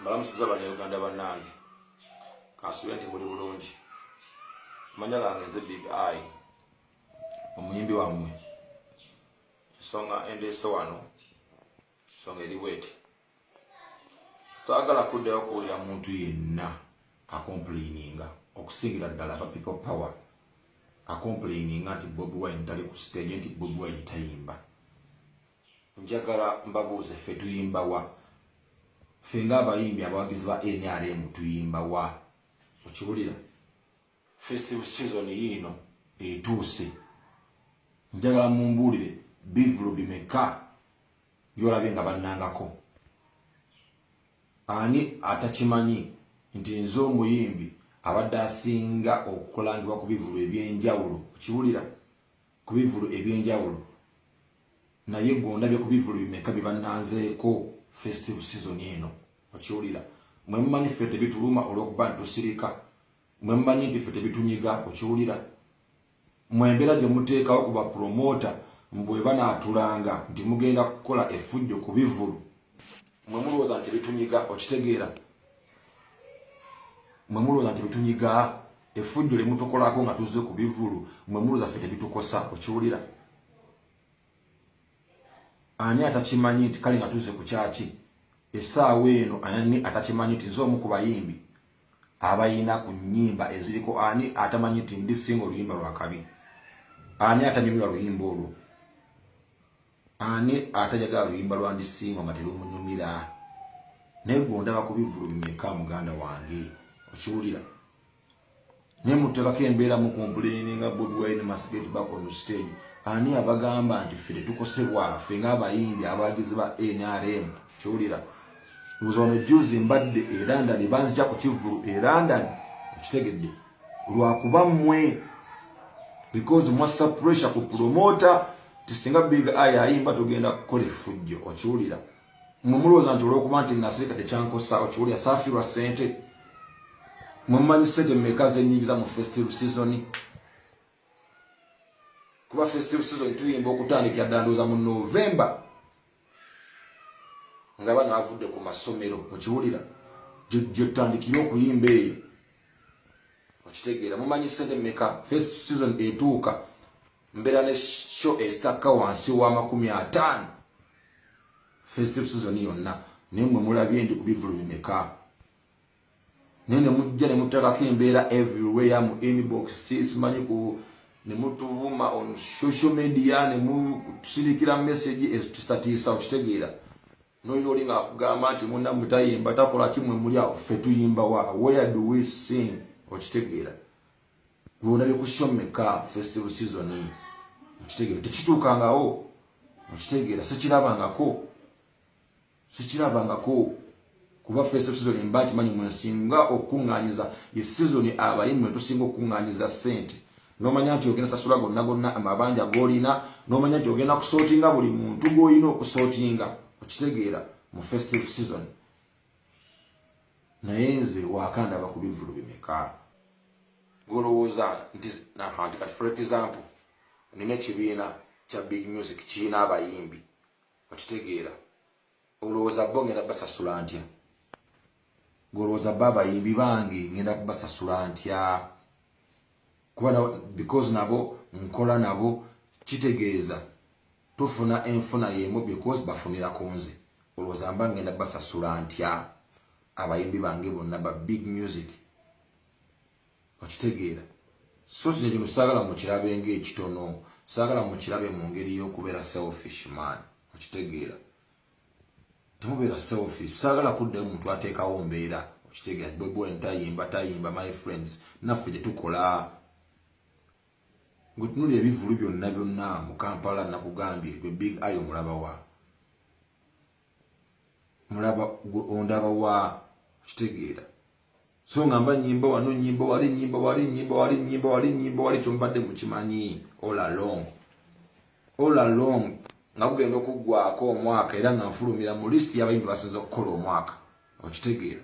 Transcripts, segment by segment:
mbalamusiza banauganda banange kansubire nti muli bulungi manya gange nze big i omuyimbi wammwe ensonga endeese wano ensonga eri bweti saagala kuddayo okuwulira muntu yenna akompuliininga okusingira ddala ba people power akompuliininga nti bobi wine tali ku siteegi nti bobi wine tayimba njagala mbabuuze ffe tuyimba wa ffe ng'abayimbi abawagizi ba nrm tuyimba wa okiwulira festive season yiino etuuse njagala mumbuulire bivulu bimeka byolabye nga bannangako ani atakimanyi nti nze omuyimbi abadde asinga okulangibwa ku bivulu eby'enjawulo okiwulira ku bivulu ebyenjawulo naye gwe ondabye ku bivulu bimeka bye bannanzeeko festive season eno okiwulira mwe mumanyi ffe tebituluma olw'okuba nti tusirika mwe mumanyi nti ffe tebitunyiga okiwulira mwe embeera gye muteekawo ku bapulomota mbwe banaatulanga nti mugenda kukola efujjo ku bivulu mwe mulowooza nti tebitunyiga okitegeera mwe mulowooza nti betunyiga efujjo lye mutukolako nga tuzze ku bivulu mwe mulowooza ffe tebitukosa okiwulira ani atakimanyi nti kale nga tuzze ku kyaki essaawa eno ani atakimanyi nti nze omu ku bayimbi abayina ku nyimba eziriko ani atamanyi nti ndi singa oluyimba lwakabi ani atanyumira luyimba olwo Ani atajagala luyimba lwa ndisiima nga terumunyumira? Naye gwe ondaba ku bivulu bimeka muganda wange okiwulira? Naye muteekako embeera mu kompuleeni nga Bobi Wine must get back on stage. Ani abagamba nti ffe tetukosebwa ffe ng'abayimbi abawagizi ba NRM kiwulira? Nze ono juzi mbadde e London banzija ku kivulu e London okitegedde. lwakuba mwe because mwassa pressure ku promota tisinga big eye ayimba tugenda kukola effujjo okiwulira mwe mulowooza nti olwokuba nti nasirika tekyankosa okiwulira saafirwa sente mwe mumanyi sente meka zenyingiza mu festive season kuba festive season tuyimba okutandikira dda ndowooza mu november nga bano avudde ku masomero okiwulira gyotandikire okuyimba eyo okitegeera mumanyi sente meka first season etuuka mbeera ne sho esitakka wansi w'amakumi ataano festive season yonna naye mwe mulabye ndi ku bivulu bimeka naye nemujja nemutakako embeera everywhere mu inbox simanyi ku nemutuvuma on social media nemutusirikira message ezitutiisa okitegeera noyo oli ngaakugamba nti munamwe tayimba takola kimwe muli awo ffe tuyimba wa where do we sing okitegeera lwona byekusomeka festival season okitegeera tekituukangawo okitegeera sikirabangako sikirabangako kuba first season mba nkimanyi mwe nsinga okukuŋŋaanyiza ye sizoni abayi mwe tusinga okukuŋŋaanyiza ssente n'omanya nti ogenda sasula gonna gonna amabanja g'olina n'omanya nti ogenda kusootinga buli muntu gw'olina okusootinga okitegeera mu festive season naye nze wakandaba ku bivulu bimeka golowooza nti kati for example nina ekibiina kya big music kirina abayimbi okitegeera olowooza bo ngenda basasula ntya ngolowooza ba abayimbi bange ngenda kubasasula ntya kuba because nabo nkola nabo kitegeeza tufuna enfuna yemu because bafunira ku nze olowooza mba ngenda basasula ntya abayimbi bange bonna ba big music okitegeera so kino kino saagala mukirabe ng'ekitono saagala mukirabe mu ngeri y'okubeera selfish man okitegeera temubeera selfish saagala kuddayo omuntu ateekawo mbeera okitegeera bwebw entayimba tayimba my friends naffe gye tukola ngwetunulira ebivulu byonna byonna mu kampala nakugambye gwe big ayo omulabawa mulaba ondaba wa kitegeera so nga mba nyimba wano nyimba wali nyimba wali nyimba wali nyimba wali nyimba wali kyombadde mukimanyi all along all along nga kugenda okuggwako omwaka era nga nfulumira mu list y'abayimbi basinza okukola omwaka okitegeera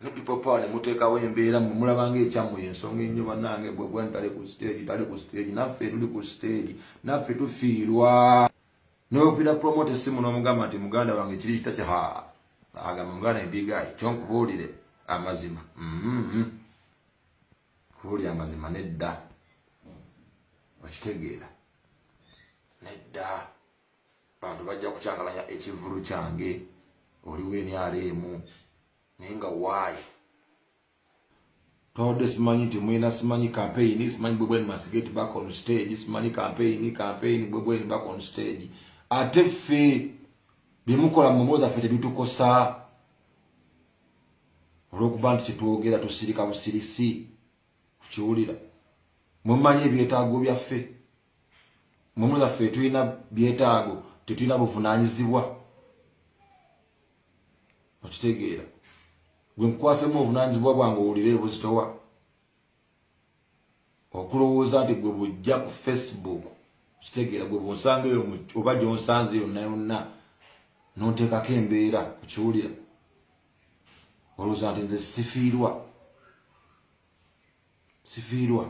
ne people power ne muteekawo embeera mwe mulabanga ekyammwe ensonga ennyo bannange gwe gwani tali ku stage tali ku stage naffe tuli ku stage naffe tufiirwa n'oyopira promote essimu n'omugamba nti muganda wange kiri kita kya ha agamba muganda embigayi kyonkubuulire amazima mm-hmm. kubuulira amazima nedda okitegeera nedda bantu bajja kukyakalanya ekivulu kyange oliwo emyala emu naye nga waayi tode simanyi nti mulina simanyi kampeyini simanyi bwebweni masigeti back on stage simanyi kampeyini kampeyini bwebweni back on stage ate ffe byemukola mu mboozi affe tebitukosa olwokuba nti kyetwogera tusirika busirisi tukiwulira mumanyi ebyetaago byaffe Mumula ffe tulina byetaago, tetulina buvunaanyizibwa. Okitegeera. Gwe nkukwasemu obuvunaanyizibwa bwange owulire ebuzitowa. Okulowooza nti gwe bujja ku Facebook kitegeera gwe bwonsanga eyo oba gyonsanze yonna yonna nonteekako embeera okiwulira olowooza nti nze sifiirwa sifiirwa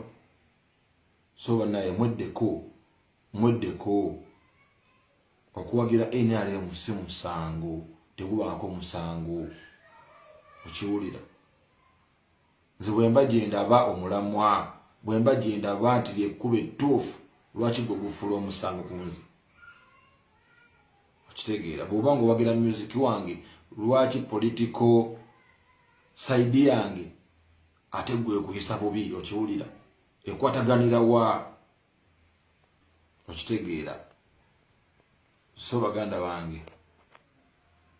so banaye mweddeko mweddeko okuwagira nrm si musango tegubaako musango okiwulira nze bwemba gyendaba omulamwa bwemba gyendaba nti lyekkuba ettuufu lwaki gwe gufuula omusango ku nze okitegeera bwoba nga owagira musiki wange lwaki politiko saidi yange ate gwe kuyisa bubi okiwulira ekwataganira wa okitegeera so baganda bange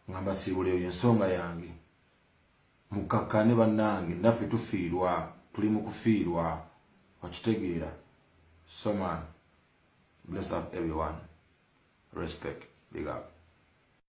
nga mbasiibula eyo ensonga yange mukkakkane bannange naffe tufiirwa tuli mu kufiirwa okitegeera so man bless up everyone respect big up